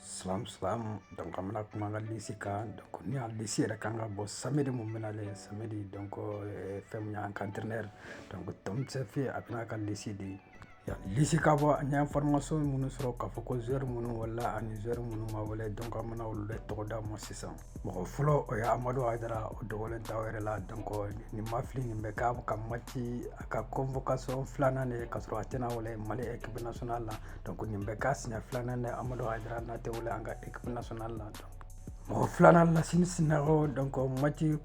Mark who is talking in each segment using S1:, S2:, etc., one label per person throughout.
S1: Salamu salamu donc an bɛna kuma an ka lisi kan donc ni a lisi yɛrɛ kan ka bɔ samedi mun bɛna le samedi donc eh, fɛn mun y'an ka entraîneur donc tom saintfiet a bɛna ka lisi di lisi ka bɔ an ye information minnu sɔrɔ k'a fɔ ko joueur minnu welela ani joueur minnu ma wele donc an bɛna olu de tɔgɔ d'a ma sisan mɔgɔ fɔlɔ o ye amadu hayidara o dogolen t'aw yɛrɛ la donc ni n ma fili nin bɛ k'a ka mati a ka convocation filanan de ka sɔrɔ a tɛna wele mali équipe nationale la donc nin bɛ k'a siɲɛ filanan de amadu hayidara n'a tɛ wele an ka équipe nationale la donc mɔgɔ filanan lasini sinayogo donc mati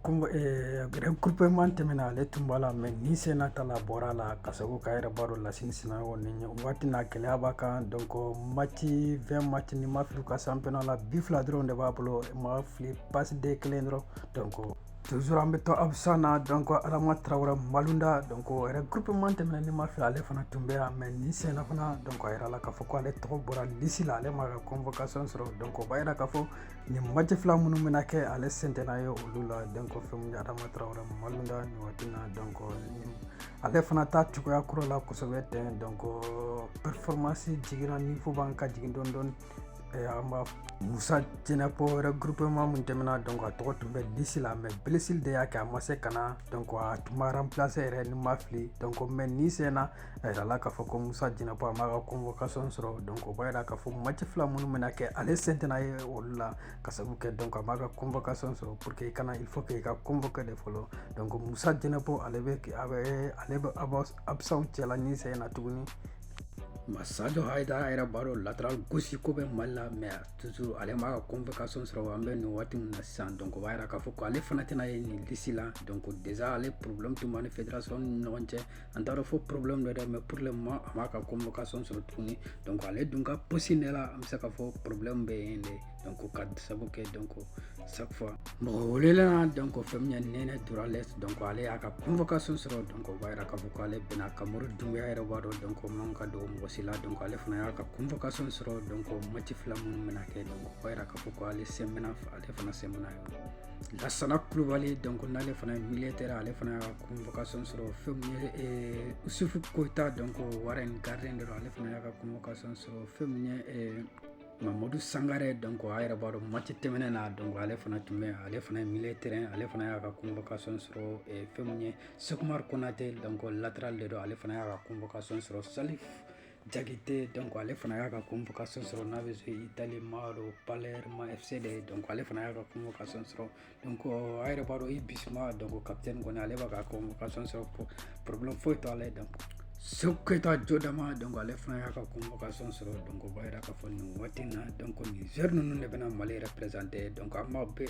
S1: regroupement tɛmɛna ale tun b'a la mais nin sen na ta la bɔr'a la ka sabu kɛ a yɛrɛ b'a dɔn lasini sinayogo ni waati na gɛlɛya b'a kan donc mati 20 mati ni n ma fili ka championnat la bi fila dɔrɔn de b'a bolo ma fili passe dé kelen dɔrɔn donc toujours an bɛ to absent na donc adama tarawele maluda donc regroupement tɛmɛna ni n ma fili ale fana tun bɛ yan mais nin sen na fana donc a yirala k'a fɔ ko ale tɔgɔ bɔra lisi la ale ma ka convocation sɔrɔ donc o b'a yira k'a fɔ nin mati fila minnu bɛna kɛ ale sen tɛna ye olu la donc fɛn min ye adama tarawele maluda nin waati na donc ale fana t'a cogoya kura la kosɛbɛ tɛ donc performance jiginna niveau b'an ka jigin dɔɔni dɔɔni an b'a musa jɛnɛpɔ regroupement mun tɛmɛna donc a tɔgɔ tun bɛ lisi la mais blessure de y'a kɛ a ma se ka na donc a tun b'a remplacer yɛrɛ ni n ma fili donc mais nin sen na a yirala k'a fɔ ko musa jɛnɛpɔ a m'a ka convocation sɔrɔ donc o b'a yira k'a fɔ match fila minnu bɛna kɛ ale sen tɛna ye olu la ka sabu kɛ donc a m'a ka convocation sɔrɔ pour que i ka na il faut que i ka convoquer de fɔlɔ donc musa jɛnɛpɔ ale bɛ a bɛ ale bɛ absent cɛla nin sen na tuguni masajo hayidara a yɛrɛ b'a dɔn latéral gauche ko bɛ mali la mais toujours ale m'a ka convocation sɔrɔ an bɛ nin waati min na sisan donc o b'a yira k'a fɔ ko ale fana tɛna ye nin lisi la donc déjà ale problème tun b'a ni fédération ni ɲɔgɔn cɛ an tɛna fɔ problème don dɛ mais pour le moment a m'a ka convocation sɔrɔ tuguni donc ale dun ka posi ne la an bɛ se ka fɔ problème bɛ yen de donc ka sabu kɛ donc chaque fois mɔgɔ welela donc fɛn min ye nɛnɛ dorgeles donc ale y'a ka convocation sɔrɔ donc o b'a yira k'a fɔ ko ale bɛ na kamori dunbiya yɛrɛ b'a dɔn donc man ka don mɔgɔ si la donc ale fana y'a ka convocation sɔrɔ donc mati fila minnu bɛna kɛ donc o b'a yira k'a fɔ ko ale sen bɛna ale fana sen bɛna y'o la lasana kulubali donc n'ale fana ye milieu terrain ale fana y'a ka convocation sɔrɔ fɛn min ye eh, usufu koyita donc warren gardien de don ale fana y'a ka convocation sɔrɔ fɛn min ye eh, mamadu sangare donc a yɛrɛ b'a dɔn mati tɛmɛnen na donc ale fana tun bɛ ale fana ye milieu terrain ale fana y'a ka convocation sɔrɔ eh, fɛn min ye sɛki umar konate donc latéral de don ale fana y'a ka convocation sɔrɔ salif Jakite donc ale fana y'a ka convocation sɔrɔ n'a bɛ jouer Italie Maro Palerme FC de donc ale fana y'a ka convocation sɔrɔ donc euh, a yɛrɛ b'a dɔn Yves Bissouma donc capitaine kɔni ale b'a ka convocation sɔrɔ problème foyi t'ale ye donc Sékou Koïta jo dama donc ale fana y'a ka convocation sɔrɔ donc o b'a yira k'a fɔ nin waati in na donc nin joueur ninnu de bɛna Mali représenter donc an b'a bɛɛ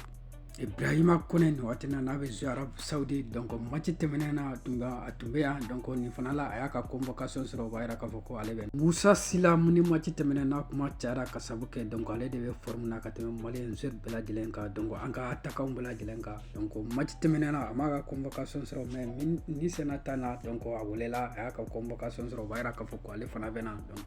S1: Ibrahima Kone nin waati na n'a bɛ jouer Arabie Saoudite donc match tɛmɛnen na tun a tun bɛ yan donc nin fana la a y'a ka convocation sɔrɔ b'a jira k'a fɔ ko ale bɛna Musa Sila min ni match tɛmɛnen na kuma cayara ka sababu kɛ donc ale de bɛ forme na ka tɛmɛ Malien bɛɛ lajɛlen kan donc an ka attaquant bɛɛ lajɛlen kan donc match tɛmɛnen na a m'a ka convocation sɔrɔ mais nin sen in ta na donc a welela a y'a ka convocation sɔrɔ b'a jira k'a fɔ ko ale fana bɛna donc